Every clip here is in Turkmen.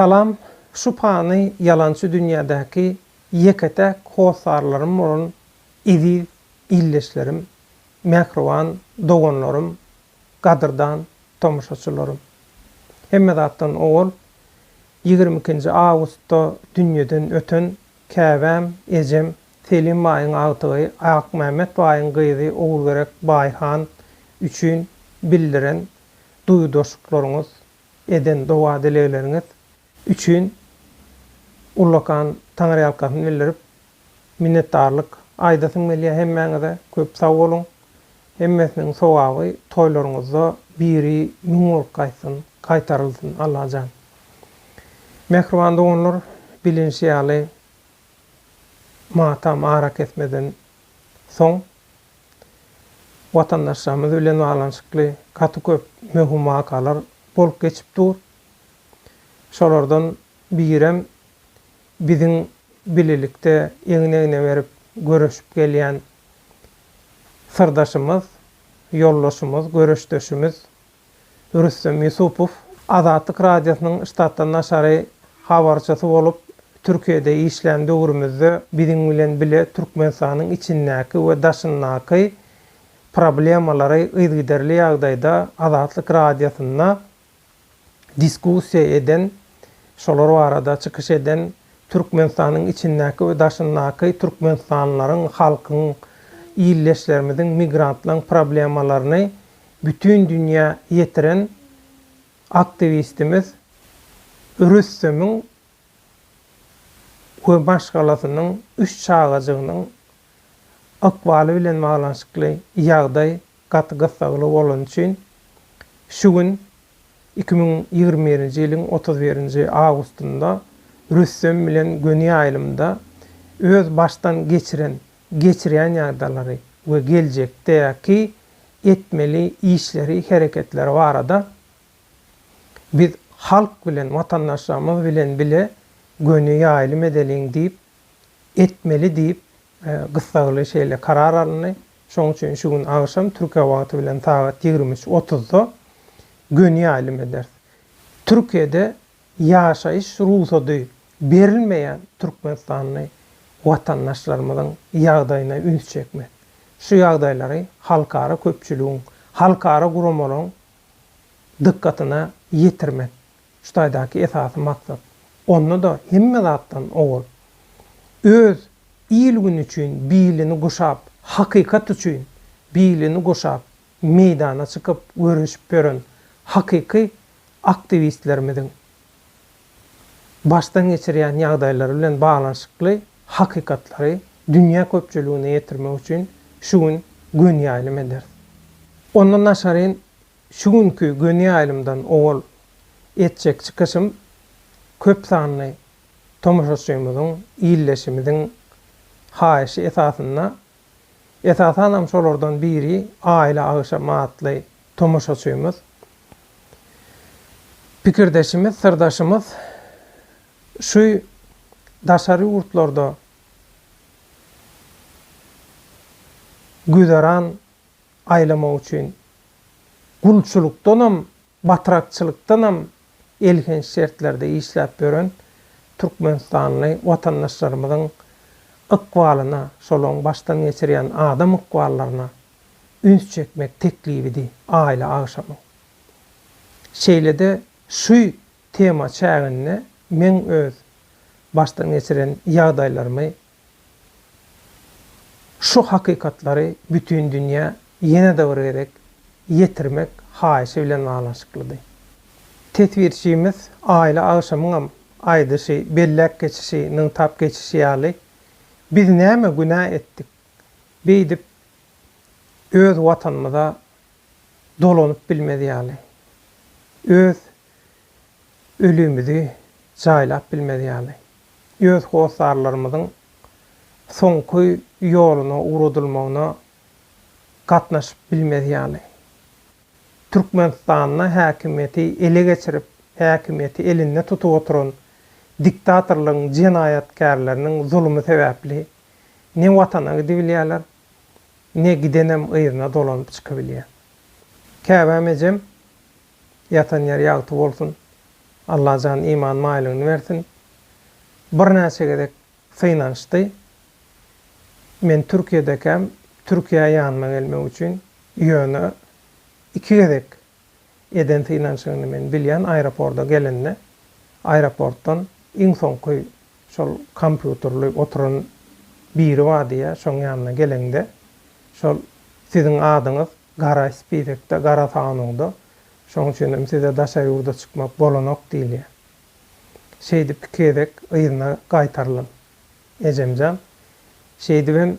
Salam, şu pany ýalançy dünýädäki ýeke-täk hossarlarym bolan eziz ildeşlerim, mähriban doganlarym Gadyrdan tomaşaçylarym! Hemme zatdan owal ýigrimi ikinji awgustda dünýeden öten käbäm ejem Selim baýyň agtygy Akmämmet baýyň gyzy Ogulgerek baý han üçin bildiren duýgudaşlyklaryňyz, eden doga-dilegleriňiz, üçin ullakan taňryýalkasyn bildirip, minnetdarlyk aýdasym gelýär hemmäňize. Köp sag boluň! Hemmesiniň sogaby toýlaryňyzda biri müň bolup gaýtsyn, gaýtarylsyn, Allajan! Mähriban doganlar, bilinişi ýaly, matam arakesmeden soň, watandaşlarymyz bilen baglanyşykly gaty köp möhüm wakalar bolup geçip dur. Şolardan birem biziň bilelikde egin-egne berip göreşip gelýän syrdaşymyz, ýoldaşymyz, göreşdeşimiz Rüstem Ýusupow. Azatlyk Radiosynyň ştatdan daşary habarçysy bolup Türkiýede işlän döwrümizde biziň bilen bile Türkmenistanyň içindäki we daşyndaky problemalary yzygiderli ýagdaýda Azatlyk Radiosynda diskussiýa eden, şolar barada çykyş eden Türkmenistanyň içindäki we daşyndaky türkmenistanlylaryň, halkyň, ildeşlerimiziň, migrantlaryň problemalaryny bütin dünýä ýetiren aktiwistimiz Rüstemiň we maşgalasynyň üç çagajygynyň ykbaly bilen baglanyşykly ýagdaý gaty gyssagly bolany üçin şu gün iki müň ýigrimi birinji ýylyň otuz birinji awgustynda Rüstem bilen göni ýaýlymda öz başdan geçiren, geçirýän ýagdalary we geljekdäki etmeli işleri, hereketleri barada biz halk bilen, watandaşlarymyz bilen bile göni ýaýlym edeliň diýip, etmeli diýip Gyssagly şeýle karar alyndy. Şonuň üçin şu gün agşam Türkiýe wagty bilen sagat ýigrimi üç otuzda göni ýaýlym ederis. Türkiýede ýaşaýyş rugsady berilmeýän türkmenistanly watandaşlarymyzyň ýagdaýyna üns çekmek, şu ýagdaýlary halkara köpçüligiň, halkara guramalaryň dykgatyna ýetirmek Şu taýdaky esasy maksat, onda-da hemme zatdan owal, öz il-gün üçin bilini guşap, hakykat üçin bilini guşap, meýdana çykyp göreşip ýören hakyky aktiwistlerimiziň başdan geçirýän ýagdaýlary bilen baglanyşykly hakykatlary dünýä köpçüligine ýetirmek üçin şu gün gönüýaýlym ederis. Ondan daşaryn Şu günki göni ýaýlymdan owal etjek çykyşym köp sanly tomaşaçymyzyň, ildeşimiziň haýyşy esasynda, esasanam şolardan biri Aýla agşamy atly tomaşaçymyz, pikirdeşimiz, syrdaşymyz şu daşary ýurtlarda güzeran aýlamak üçin gulçulykdanam, batrakçylykdanam elhenç şertlerde işläp ýören türkmenistanly watandaşlarymyzyň ykbalyna, şolaryň başdan geçirýän adam ykballaryna üns çekmek teklibidi aýla agşamy. Şeýle-de şu tema çäginde meň öz başdan geçiren ýagdaýlarymy Şu hakykatlary bütin dünýä ýene-de bir gezek ýetirmek haýyşy bilen baglanyşyklydy. Teswirçimiz Aýly agşamyňam aýdyşy, belläp geçişi, nygtap geçişi ýaly, biz näme günä etdik, beýdip öz Watanymyza dolanyp bilmez ýaly, öz ölümizi jaýlap bilmez ýaly, öz hossarlarymyzyň soňky ýoluna ugradylmagyna gatnaşyp bilmez ýaly, Türkmenistanda häkimiýeti ele geçirip, häkimiýeti elinde tutup oturan diktatorlygyň jenaýatkärleriniň zulumy sebäpli ne Watana gidibilýärler, ne gidenem yzyna dolanyp çykybilýär. Käbäm ejem Ýatan ýeri ýagty bolsun. Allajan iman maýlygyny bersin. Birnäçe gezek synanyşdy. Men Türkiýedekäm Türkiýä ýanyma gelmek üçin ýöne iki gezek eden synanyşygyny men bilýän aeroporda gelende aeroportdan iň soňky şol kompýuterli oturan biri bar diýýä şoň ýanyna geleňde şol siziň adyňyz Gara spizekde, gara sanawda, şoň üçin hem size daşary ýurda çykmak bolanok diýilýär. Şeýdip iki gezek yzyna gaýtarylyn, ejemjan. Şeýdibem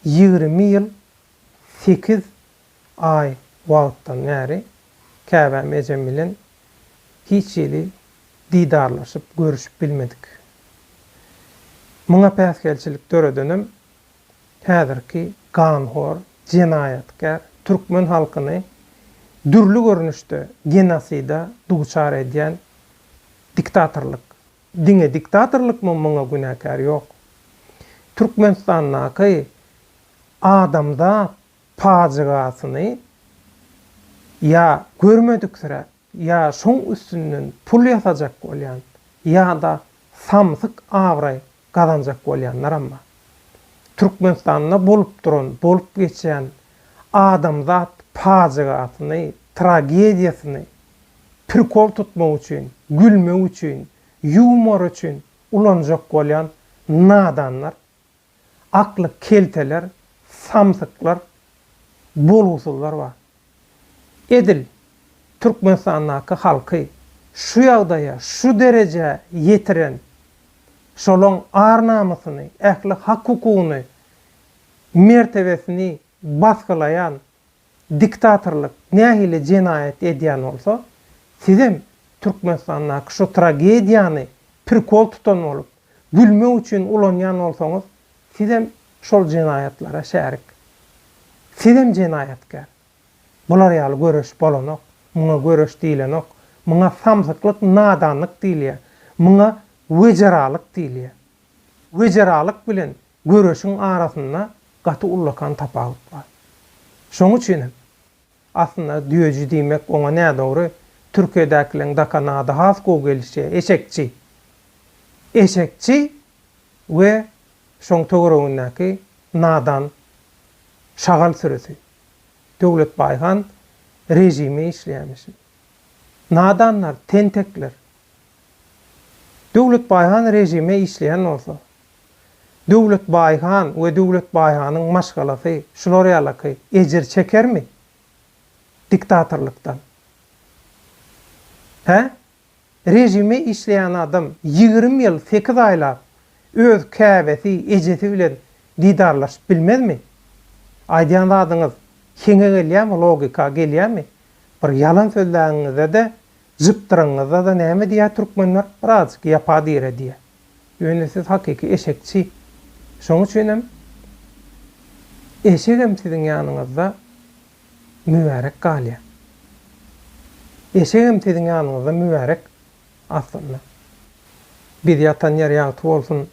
ýigrimi ýyl sekiz aý wagtdan bäri käbäm ejem bilen hiç hili didarlaşyp, görüşip bilmedik. Muňa päsgelçilik döredenem häzirki ganhor, jenaýatkär türkmen halkyny dürli görnüşde genosida duçar edýän diktatorlyk. Diňe diktatorlykmy muňa günäkär? Ýok. Türkmenistandaky adamzat pajygasyny ýa görmediksiräp, Ýa şoň üstünden pul ýasajak bolýan, ýa-da samsyk abraý gazanjak bolýanlaram bar. Türkmenistanda bolup duran, bolup geçýän adamzat pajygasyny, tragediýasyny prikol tutmak üçin, gülmek üçin, ýumor üçin ulanjak bolýan nadanlar, Akly kelteler, samsyklar, bolgusyzlar bar. Edil Türkmenistandaky halky şu ýagdaýa, şu derejä ýetiren, şolaň ar-namysyny, ähli hak-hukugyny, mertebesini basgylaýan diktatorlyk nähili jenaýat edýän bolsa, sizem Türkmenistandaky şu tragediýany prikol tutan bolup, gülmek üçin ulanýan bolsaňyz, sizem şol jenaýatlara şärik. Sizem jenaýatkär. Bular ýaly göreş bolanok. Muňa göreş diýlenok. Muňa samsyklyk, nadanlyk diýilýär. Muňa wejeralyk diýilýär. Wejeralyk bilen Göreşiň arasynda gaty ullakan tapawut bar. Şoň üçin hem, aslynda düýeji diýmek oňa nädogry, Türkiýedäkileň dakan ady has gowy gelişýär, eşekçi. Eşekçi we şoň töweregindäki nadan şagal sürüsi. Döwletbaý han režime işleýärmişin. Nadanlar, tentekler. Döwletbaý han režime işleýän bolsa, Döwlet Baýhan we Döwlet Baýhanyň maşgalasy şular ýalaky ejir çekermi diktatorlykdan? Hä? Režime işleýän adam ýigrimi ýyl sekiz aýlap öz käbesi, ejesi bilen didarlaşyp bilmezmi? Aýdýan zadyňyz heňe gelýämi, logika gelýämi? Bir ýalan sözläňiňizde-de, jypdyraňyňyzda-da näme diýýär türkmenler? Birazajyk ýapa-dire diýýär. Ýöne siz hakyky eşekçi. Şoň üçinem eşegem siziň ýanyňyzda mübärek galýar. Eşegem siziň ýanyňyzda mübärek aslynda. Biz ýatan ýer ýagty bolsun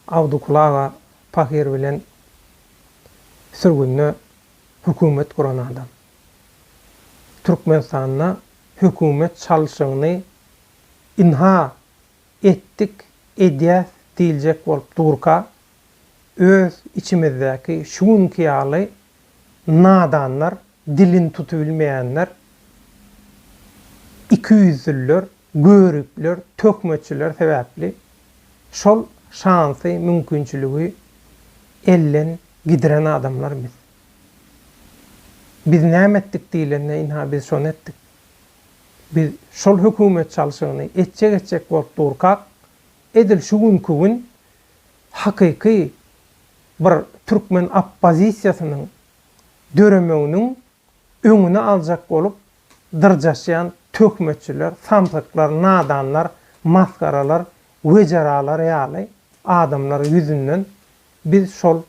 Abdykul aga pahyr bilen sürgünde hökümet guran adam. Türkmenistanda hökümet çalşygyny ynha etdik, edýäs diýiljek bolup durka, öz içimizdäki şu günki ýaly nadanlar, dilini tutubilmeýänler, ikiýüzlüler, göripler, töhmetçiler sebäpli şol şansy, mümkinçiligi elden gidiren adamlar biz. Biz näme etdik diýlende, ynha biz şony etdik. Biz şol hökümet çalşygyny etjek-etjek bolup durkak, edil şu günki gün hakyky bir türkmen oppozisiýasynyň döremeginiň öňüni aljak bolup dyrjaşýan töhmetçiler, samsyklar, nadanlar, masgaralar, wejeralar ýaly adamlar ýüzünden biz şol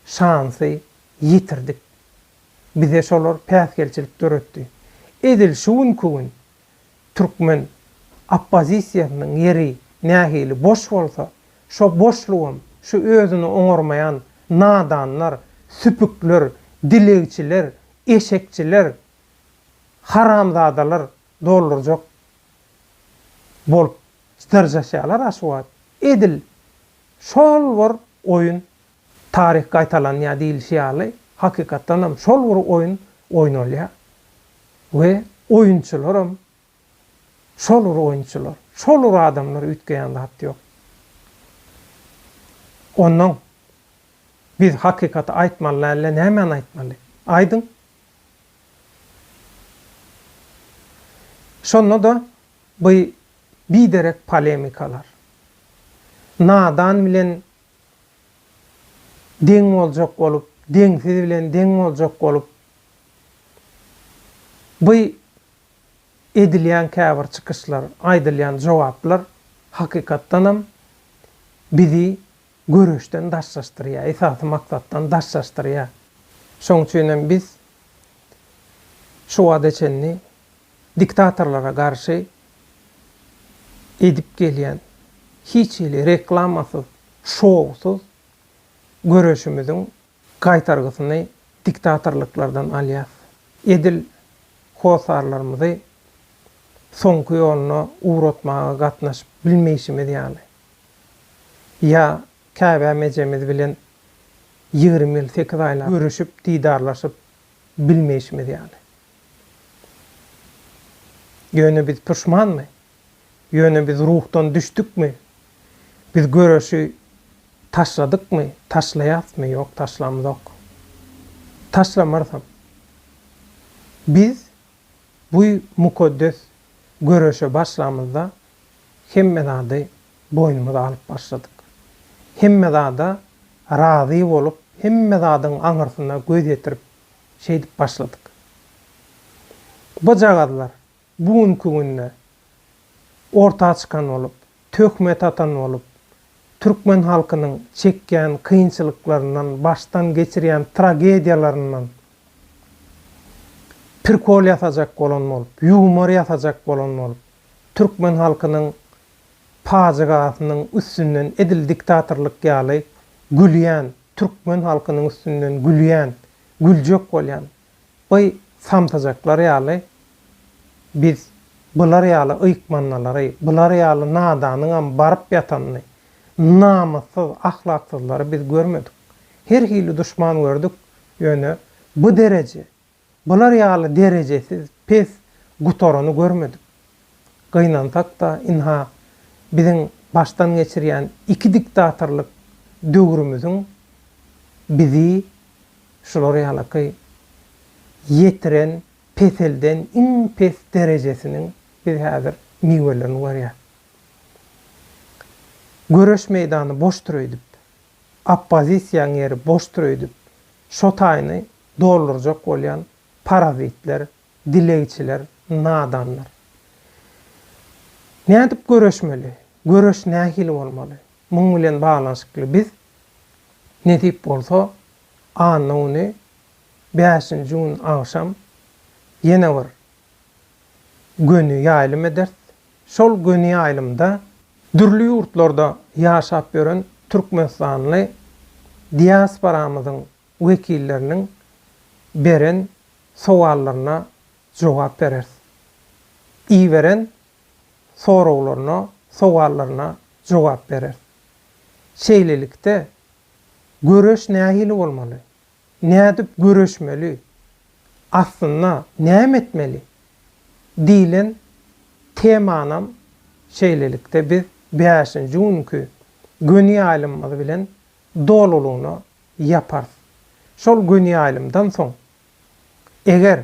şansy ýitirdik. bize şolar päsgelçilik döretdi. Edil şu günki gün türkmen oppozisiýasynyň ýeri nähili boş bolsa, şo boşlugam şu özüni oňarmaýan nadanlar, süpükler, dilegçiler, eşekçiler, haramzadalar doldurjak bolup dyrjaşýarlar-a şu wagt. Edil şol bir oýun Taryh gaýtalanýar diýlişi ýaly, hakykatdan hem şol bir oýun oýnalýar we oýunçylar hem şol bir oýunçylar, şol bir adamlar üýtgeýän zat ýok. Onnoň biz hakykaty aýtmaly däl-de nämäni aýtmaly? Aýdyň! Şonda-da bu biderek polemikalar, nadan bilen Deň boljak bolup, deňsiz bilen deň boljak bolup, bu edilýän käbir çykyşlar, aýdylýan jogaplar hakykatdanam bizi göreşden daşlaşdyrýar, esasy maksatdan daşlaşdyrýar. Şoň üçinem biz şu wagta çenli diktatorlara garşy edip gelýän hiç hili reklamasyz, şowsuz göreşimiziň gaýtargysyny diktatorlyklardan alýas. Edil hossarlarymyzy soňky ýoluna ugratmaga gatnaşyp bilmeýşimiz ýaly, ýa Käbäm ejemiz bilen ýigrimi ýyl sekiz aýlap görüşip, didarlaşyp bilmeýşimiz ýaly. Ýöne biz puşmanmy? Ýöne biz ruhdan düşdükmi? Biz göreşi taşladykmy? Taşlaýasmy? Ýok, taşlamzok. Taşlamarzam. Biz bu mukaddes göreşe başlamyzda hemme zady boýnumyza alyp başladyk. Hemme zada razy bolup, hemme zadyň aňyrsyna göz ýetirip şeýdip başladyk. Gyzjagazlar bu günki günde orta çykan bolup, töhmet atan bolup, türkmen halkynyň çekýän kynçylyklaryndan, başdan geçirýän tragediýalaryndan prikol ýasajak bolan bolup, ýumor ýasajak bolan bolup, türkmen halkynyň pajygasynyň üstünden edil diktatorlyk ýaly gülýän Türkmen halkynyň üstünden gülýän, güljek bolýan by samsyjaklar ýaly biz bular ýaly ýykmannalary, bular ýaly nadanyňam baryp ýatanyny, namyssyz, ahlaksyzlary biz görmedik. Her hili duşman gördük, ýöne bu dereje Bular ýaly derejesiz, pes, gutarany görmedik. Gynansak-da, ynha, biziň başdan geçirýän iki diktatorlyk döwrümiziň bizi şular ýalaky ýetiren, peselden iň pes derejesiniň biz häzir miwelerini görýäs. Göreş meýdany boşdur öýdüp. oppozisiýaň ýeri boşdur öýdüp, şo taýyny doldurjak bolýan parazitler, dilegçiler, nadanlar. Nädip göreşmeli? Göreş nähili bolmaly? Muň bilen baglanyşykly biz, nesip bolsa, anna güni, bäşinji gün agşam ýene bir göni ýaýlym ederis. Şol göni ýaýlymda dürli ýurtlarda ýaşap ýören türkmenistanly diasporamyzyň wekilleriniň beren sowallaryna jogap bereris. Iberen soraglaryna, sowallaryna jogap bereris. Şeýlelikde, göreş nähili bolmaly? Nädip göreşmeli? Aslynda näme etmeli? diýlen temanam şeýlelikde biz bäşinji günki göni ýaýlymymyz bilen dolulygyna ýaparys. Şol göni ýaýlymdan soň, eger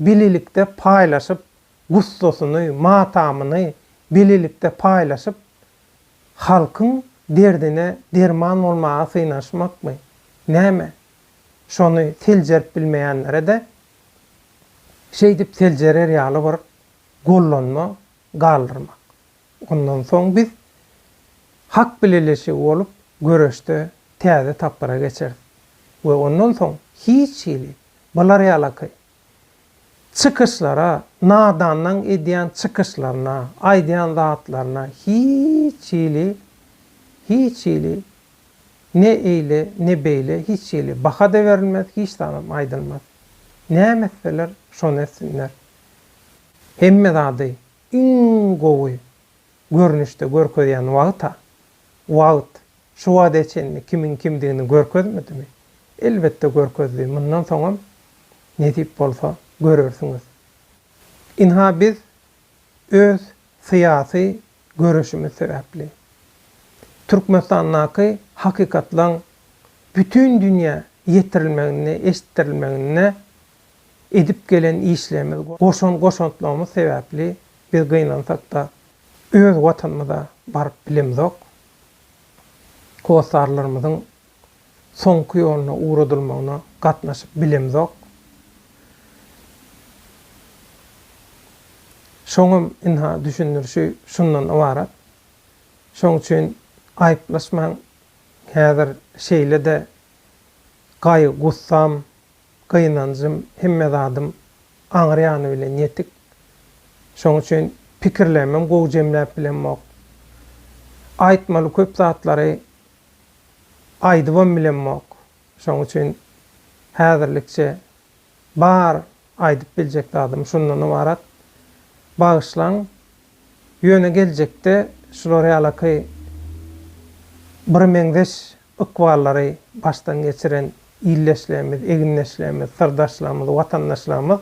bilelikde paýlaşyp, gussasyny, matamyny bilelikde paýlaşyp, halkyň derdine derman bolmaga synanyşmakmy, näme? Şony seljerip bilmeýänlere-de şeýdip seljerer ýaly bir gollanma galdyrmak. Ondan soň biz hak bileleşigi bolup, göreşde täze tapgyra geçeris we ondan soň hiç hili Bular ýalaky çykyşlara, nadanlaň edýän çykyşlaryna, aýdýan zatlaryna hiç hili, hiç hili ne eýle, ne beýle hiç hili baha-da berilmez, hiç zadam aýdylmaz. Näme etseler, şony etsinler. Hemme zady iň gowy görnüşde görkezýän wagt-a, wagt, Şu wagta çenli kimiň kimdigini görkezmedimi? Elbetde görkezdi, mundan soňam nesip bolsa görersiňiz. Ynha biz öz syýasy göreşimiz sebäpli Türkmenistandaky hakykatlaň bütin dünýä ýetirilmeginde, eşitdirilmeginde edip gelen işlerimiz, goşan goşantlarymyz sebäpli biz gynansakda öz watanymyza baryp bilemizok, Hossarlarymyzyň soňky ýoluna ugradylmagyna gatnaşyp bilemzok. Şoňam ynha düşündirişi şundan ybarat. Şoň üçin aýyplaşmaň, häzir şeýle-de gaýgy-gussam, Gynanjym, hemme zadym aňry ýany bilen ýetik. Şoň üçin pikirlerimem gowy jemläp bilemok. Aýtmaly köp zatlary aýdybam bilemok. Şoň üçin häzirlikçe bar aýdyp biljek zadym şundan ybarat. Bagyşlaň. Ýöne geljekde şular ýalaky birmeňzeş Ykwallary başdan geçiren ildeşlerimiz, egindeşlerimiz, syrdaşlarymyz, watandaşlarymyz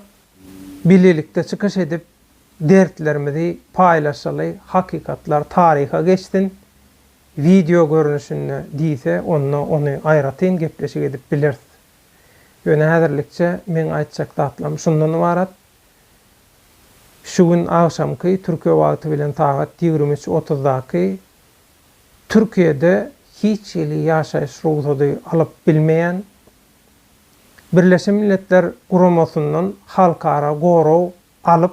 bilelikde çykyş edip, dertlerimizi paýlaşaly, hakykatlar taryha geçsin, wideo görnüşinde diýse, onda ony aýratyn gepleşik edip bileris. Ýöne häzirlikçe meň aýtjak zatlarym şundan ybarat. Şu gün agşamky, türkiýe wagty bilen sagat ýigrimi üç otuzdaky Türkiýede hiç hili ýaşaýyş rugsady alyp bilmeýän, Birleşen Milletler Guramasyndan halkara gorag alyp,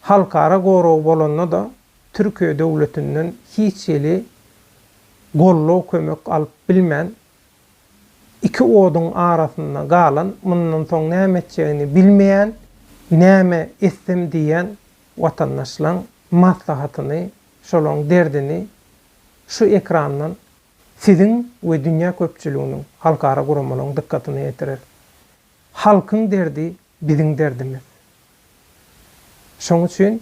halkara goragy bolanda-da Türkiýe döwletinden hiç hili gollag-kömek alyp bilmän, iki oduň arasynda galan, mundan soň näme etjegini bilmeýän, näme etsem diýýän watandaşlaň maslahatyny Şolaň derdini şu ekrandan siziň we dünýä köpçüliginiň, halkara guramalaryň dykgatyna ýetireris. Halkyň derdi biziň derdimiz. Şoň üçin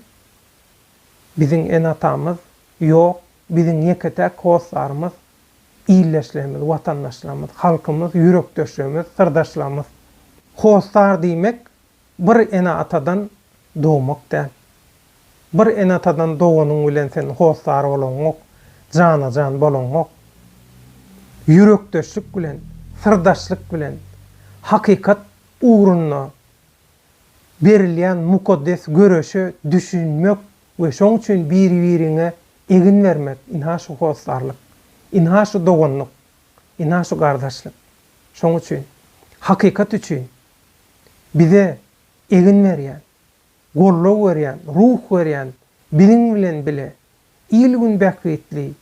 biziň ene-atamyz ýok, biziň ýeke-täk hossarymyz ildeşlerimiz, watandaşlarymyz, halkymyz, ýürekdeşlerimiz, syrdaşlarymyz. Hossar diýmek. Bir ene-atadan dogmak däl. Bir ene-atadan doganyň bilen sen hossar bolaňok, jana-jan bolaňok. Ýürekdeşlik bilen, syrdaşlyk bilen, hakykat ugrunda berilýän mukaddes göreşe düşünmek we şoň üçin biri-biriňe egin bermek, ynha şu hossarlyk, ynha şu doganlyk, ynha şu gardaşlyk. Şoň üçin, hakykat üçin bize egin berýän, goldaw berýän, ruh berýän biziň bilen bile il-gün bähbitli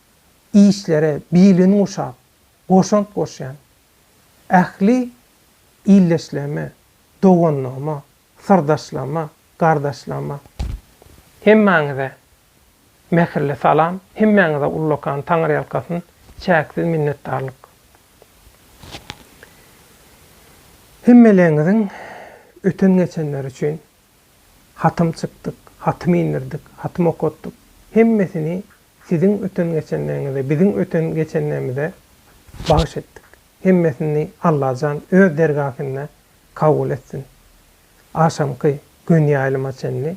işlere bilin guşap, goşant goşýan ähli ildeşlerime, doganlygyma, syrdaşlaryma, gardaşlaryma, hemmäňize Mähirli salam, hemmäňize ullakan Taňyrýalkasyn, çäksiz minnetdarlyk. Hemmeleriňiziň öten-geçenleri üçin hatym çykdyk, hatym indirdik, hatym okatdyk. Hemmesini siziň öten-geçenleriňize, biziň öten-geçenlerimize bagyş etdik. Hemmesini Allajan öz dergähinde kabul etsin. Agşamky gün ýaýlyma çenli